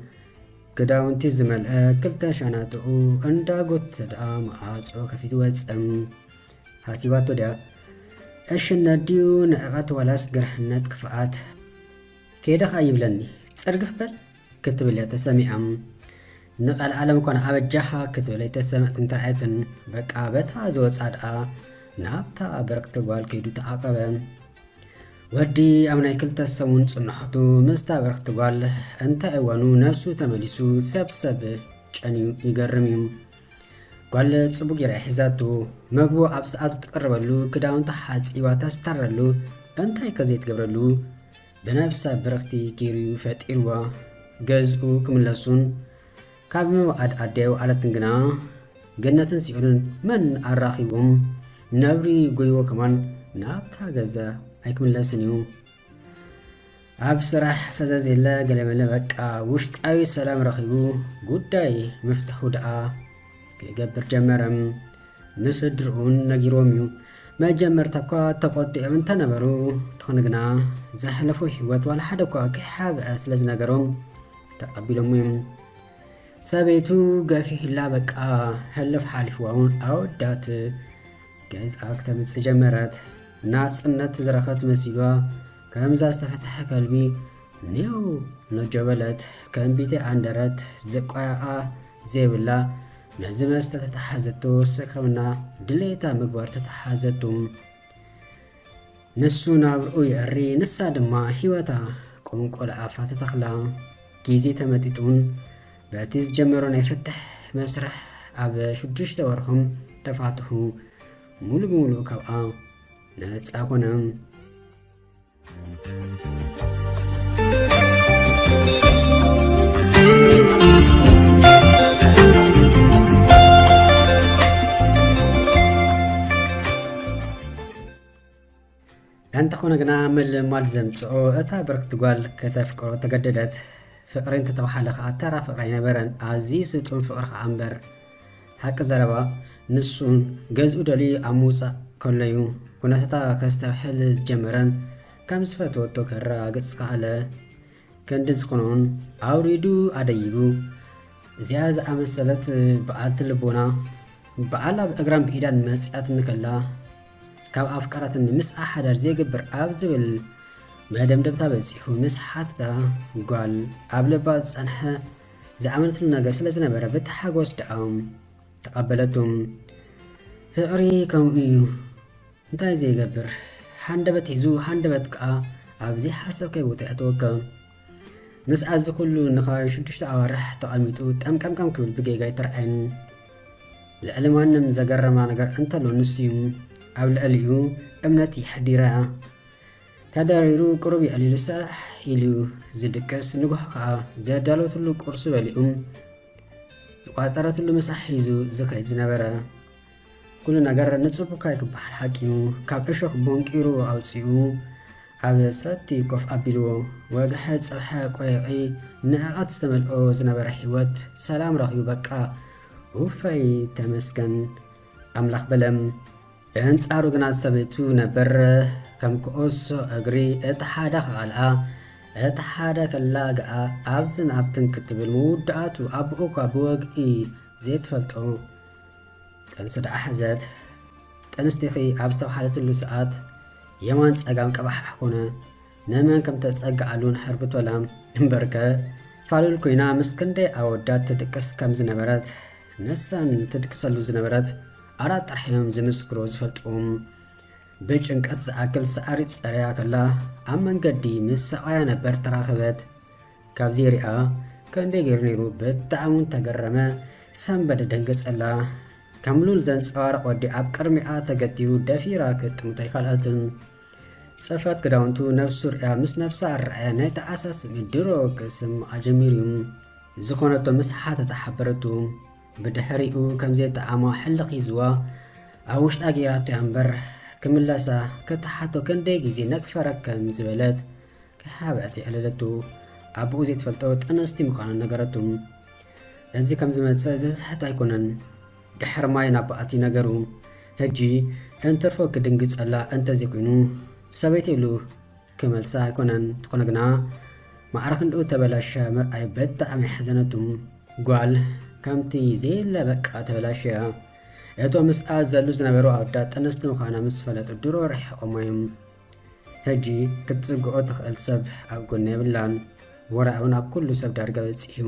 ክዳውንቲ ዝመልአ ክልተ ሻናጥኡ እንዳጎተተ ደኣ መዓጾ ከፊቱ ወጸ። ሃሲባቶ ድያ ዕሽነት ድዩ ንዕቐት ዋላስ ግርሕነት ክፍኣት? ከይደ ከኣ ይብለኒ ጽርግፍ በል ክትብል እያ ተሰሚዓ። ንቀልዓለም ኮነ ኣበጃኻ ክትብል ኣይተሰምዐትን ተራእየትን። በቃ በታ ዝወጽኣ ደኣ ናብታ ብርክቲ ጓል ከይዱ ተዓቀበ። ወዲ ኣብ ናይ ክልተ ሰሙን ጽንሖቱ ምስታ ብርክቲ ጓል እንታይ እዋኑ ነብሱ ተመሊሱ ሰብሰብ ጨንዩ ይገርም እዩ። ጓል ጽቡቅ ጌራ ሒዛቱ መግቡ ኣብ ሰዓቱ ትቅርበሉ ክዳውንታ ሓጺባ ተስታረሉ እንታይ ከዘይትገብረሉ ብነብሰ ብርኽቲ ገይሩ'ዩ ፈጢርዎ። ገዝኡ ክምለሱን ካብ ምውዓድ ኣደው ኣለትን ግና ገነትን ሲኦልን መን ኣራኺቡም ነብሪ ጎይዎ ከማን ናብታ ገዛ ኣይክምለስን እዩ። ኣብ ስራሕ ፈዘዝ የለ ገለመለ በቃ ውሽጣዊ ሰላም ረኺቡ ጉዳይ ምፍትሑ ደኣ ክገብር ጀመረ። ንስድርኡን ነጊሮም እዩ። መጀመርታ እኳ ተቆጢዖም እንተነበሩ ትኾነ ግና ዘሕለፎ ህይወት ዋላ ሓደ እኳ ከይሓብአ ስለ ዝነገሮም ተቐቢሎሞ እዮም። ሰበይቱ ገፊሕላ በቃ ሕልፍ ሓሊፍዋ እውን ኣወዳት ገዝኣ ክተምፅእ ጀመረት። ናፅነት ዝረኸት መሲሏ ከምዛ ዝተፈተሐ ከልቢ ኔው ነጆ በለት። ከም ቢቴ ኣንደረት ዝቋያኣ ዘይብላ ነዚ መስተ ተተሓዘቶ ሰክረምና ድሌታ ምግባር ተተሓዘቱ ንሱ ናብርኡ ይዕሪ ንሳ ድማ ሂወታ ቁንቆል ኣፋ ተተኽላ ግዜ ተመጢጡን በቲ ዝጀመሮ ናይ ፍትሕ መስርሕ ኣብ ሽዱሽተ ወርሖም ተፋትሑ ሙሉ ብምሉእ ካብኣ ነፃ ኮነ። እንተኾነ ግና ምልማድ ዘምፅኦ እታ ብርክቲ ጓል ከተፍቅሮ ተገደደት ፍቅሪ እንተተባሃለ ከዓ ተራ ፍቅሪ ኣይነበረን ኣዝዩ ስጡም ፍቅሪ ከዓ እምበር ሓቂ ዘረባ ንሱ ገዝኡ ደልዩ ኣብ ምውፃእ ከሎዩ ኩነታታ ከስተብሕል ዝጀመረን ከም ዝፈትወቶ ከረጋግፅ ዝኸኣለ ከንዲ ዝኾነውን ኣውሪዱ ኣደይቡ እዚኣ ዝኣመሰለት በዓልቲ ልቦና በዓል ኣብ እግራን ብኢዳን መፅያት እንከላ ካብ ኣፍቃራትን ምስ ኣሓዳር ዘይግብር ኣብ ዝብል መደምደምታ በፂሑ ምስ ሓትታ ጓል ኣብ ልባ ዝፀንሐ ዝኣመነትሉ ነገር ስለ ዝነበረ ብታሓጎስ ድኣም ተቐበለቱ። ፍቕሪ ከምኡ እዩ እንታይ ዘይገብር ሃንደበት ሒዙ ሃንደበት ከኣ ኣብ ዘይሓሰብካዮ ቦታ የእትወካ። ምስ ኣዚ ኩሉ ንኸባቢ ሽዱሽተ ኣዋርሕ ተቐሚጡ ጠምቀምቀም ክብል ብጌጋ ኣይተርኣየን። ልዕሊ ማንም ዘገረማ ነገር እንተሎ ንሱ እዩ። ኣብ ልዕሊኡ እምነት የሕዲራ። ተደሪሩ ቅሩብ የዕሊሉ ሰራሕ ኢሉ ዝድቅስ ንጉሆ ከኣ ዘዳለወትሉ ቁርሱ በሊዑ ዝቋጸረትሉ ምሳሕ ሒዙ ዝኸይድ ዝነበረ ኩሉ ነገር ንጽቡካይ ክበሃል ሓቂኑ ካብ እሾኽ ቦንቂሩ ኣውጺኡ ኣብ ሰቲ ኮፍ ኣቢልዎ ወግሐ ጽብሐ ቆይቒ ንዕቐት ዝተመልኦ ዝነበረ ህይወት ሰላም ረኺቡ በቃ ውፈይ ተመስገን ኣምላኽ በለም ብኣንጻሩ ግና ሰበይቱ ነበር ከም ኩዑሶ እግሪ እቲ ሓደ ክቓልዓ እቲ ሓደ ክላግኣ ኣብዝን ኣብትን ክትብል ምውዳኣቱ ኣቦኡ እኳ ብወግኢ ዘይትፈልጦ ጥንሲ ደኣ ሕዘት ጥንስቲኺ ኣብ ዝተብሃለትሉ ሰዓት የማን ጸጋም ቀባሕ ኮነ። ንመን ከም ተጸግዓሉን ሕርብቶላም እምበርከ ፋሉል ኮይና ምስ ክንደይ ኣወዳት ትድቅስ ከም ዝነበረት ንሳን ትድቅሰሉ ዝነበረት ኣራት ጥራሕ እዮም ዝምስክሩ ዝፈልጥዎም ብጭንቀት ዝኣክል ሰዓሪ ጸረያ ከላ ኣብ መንገዲ ምስ ሰብኣያ ነበር ተራኸበት ካብዚ ሪኣ ክንደይ ገይሩ ነይሩ ብጣዕሚ እውን ተገረመ ሰንበደ ደንገጸላ ከም ሉል ዘንጸባርቕ ወዲ ኣብ ቅድሚኣ ተገቲሩ ደፊራ ክጥምቶ ኣይካልኣትን ጸፍራት ክዳውንቱ ነብስ ሱር'ያ ምስ ነብሳ ኣረኣያ ናይ ተኣሳ ስሚ ድሮ ክስምዓ ጀሚሩ'ዩ። ዝኾነቶ ምስ ሓተታ ሓበረቱ። ብድሕሪኡ ከም ዘይጠዓማ ሕልኽ ሒዝዋ ኣብ ውሽጣ ገይራቶ'ያ እምበር ክምለሳ ክትሓቶ ክንደይ ግዜ ነግፈረ ከም ዝበለት ከይሓብዐት የዕለለቱ። ኣቡኡ ዘይትፈልጦ ጥንስቲ ምዃና ነገረቱ። እዚ ከም ዝመጽእ ዘስሕት ኣይኮነን። ድሕር ማይ ናብ ባኣቲ ነገሩ ህጂ እንትርፎ ክድንግጸላ እንተዚ ኩይኑ ሰበይቲ እሉ ክመልሳ ኣይኮነን ትኮነ ግና ማዕረ ክንድኡ ተበላሽያ ምርኣይ በጣዕሚ ኣሕዘነቱ ጋል ከምቲ ዘየለ በቃ ተበላሽያ እቶም ምስኣ ዘሉ ዝነበሩ ኣወዳት ጥንስቲ ምኳና ምስ ፈለጡ ድሮ ርሒቆሞ እዮም ህጂ ክትጽግኦ ትክእል ሰብ ኣብ ጎና የብላን ወረ ኣውን ኣብ ኩሉ ሰብ ዳርጋ በጺሑ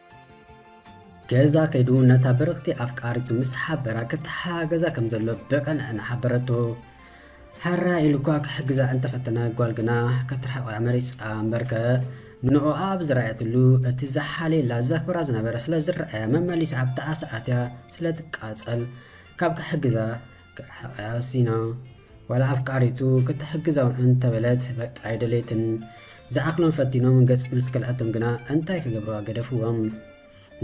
ገዛ ከይዱ ነታ ብርኽቲ ኣፍቃሪቱ ምስ ሓበራ ክተሓጋገዛ ከም ዘሎ ብቐንዕና ሓበረቶ። ሓራ ኢሉ እኳ ክሕግዛ እንተፈተነ ጓል ግና ከትርሕቆ እያ መሪጻ እምበርከ ንንኦኣ ኣብ ዝረኣየትሉ እቲ ዝሓልየላ ዘኽብራ ዝነበረ ስለ ዝረኣያ መመሊሳ ኣብታ ኣሰ ኣትያ ስለ ትቃጸል ካብ ክሕግዛ ክትርሕቐያ ወሲና። ዋላ ኣፍቃሪቱ ክትሕግዛውን እንተበለት በቃ ኣይደለየትን። ዝኣኽሎም ፈቲኖም ገጽ ምስ ከልኣቶም ግና እንታይ ክገብርዋ ገደፍዎም።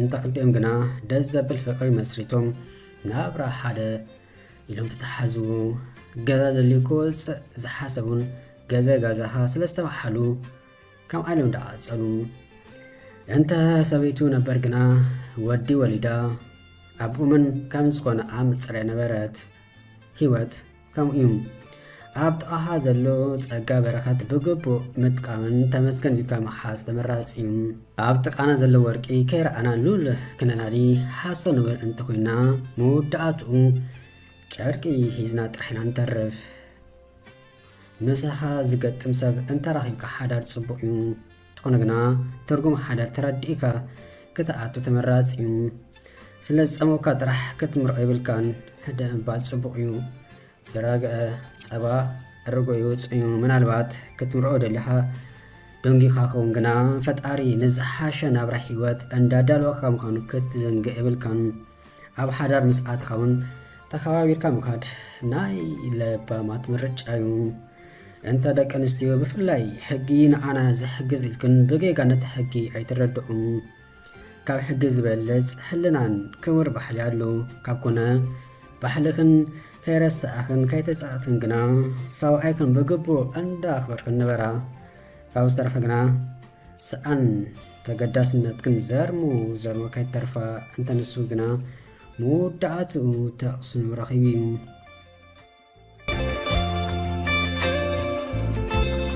እንተ ክልቲኦም ግና ደስ ዘብል ፍቕሪ መስሪቶም ናብራ ሓደ ኢሎም ተተሓዙ። ገዛ ደልዩ ክወጽእ ዝሓሰቡን ገዘ ጋዛኻ ስለ ዝተባሓሉ ከም ዓለም ደኣ ጸሉ እንተ ሰበይቱ ነበር ግና ወዲ ወሊዳ ኣብኡምን ከም ዝኾነ ኣም ጽረ ነበረት ህይወት ከምኡ እዩ ኣብ ጥቓኻ ዘሎ ጸጋ በረኸት ብግቡእ ምጥቃምን ተመስገን ኢልካ ምሓዝ ተመራጺ እዩ ኣብ ጥቃና ዘሎ ወርቂ ከይረኣና ሉል ክነናዲ ሓሶ ንብል እንተኮይና መወዳእትኡ ጨርቂ ሂዝና ጥራሕ ኢና ንተርፍ ምሳኻ ዝገጥም ሰብ እንተረኺብካ ሓዳር ጽቡቕ እዩ። እንተኾነ ግና ትርጉም ሓዳር ተረዲእካ ክትኣቱ ተመራጺ እዩ። ስለ ዝጸመውካ ጥራሕ ክትምርዖ የብልካን። ሕደ ምባል ጽቡቕ እዩ። ዝረግዐ ጸባ ርጎ ይውጽእ እዩ። ምናልባት ክትምርዖ ደሊኻ ደንጊኻ ክኸውን ግና ፈጣሪ ንዝሓሸ ናብራ ህይወት እንዳዳለወካ ምዃኑ ክትዝንግዕ የብልካን። ኣብ ሓዳር ምስ ኣትኻ እውን ተኸባቢርካ ምኻድ ናይ ለባማት ምርጫ እዩ እንተ ደቂ ኣንስትዮ ብፍላይ ሕጊ ንኣና ዝሕግዝ ኢልክን ብጌጋ ነቲ ሕጊ ኣይትረድዑ ካብ ሕጊ ዝበልፅ ሕልናን ክቡር ባሕሊ ኣሎ ካብ ኮነ ባሕልኽን ከይረሳእኽን ከይተፃእትክን ግና ሰብኣይክን ብግቡእ እንዳ ኣኽበርክን ንበራ ካብ ዝተረፈ ግና ሰኣን ተገዳስነት ክንዘርሙ ዘርሞ ከይተርፋ እንተንሱ ግና ምውዳኣትኡ ተቕስኑ ረኺቡ እዩ።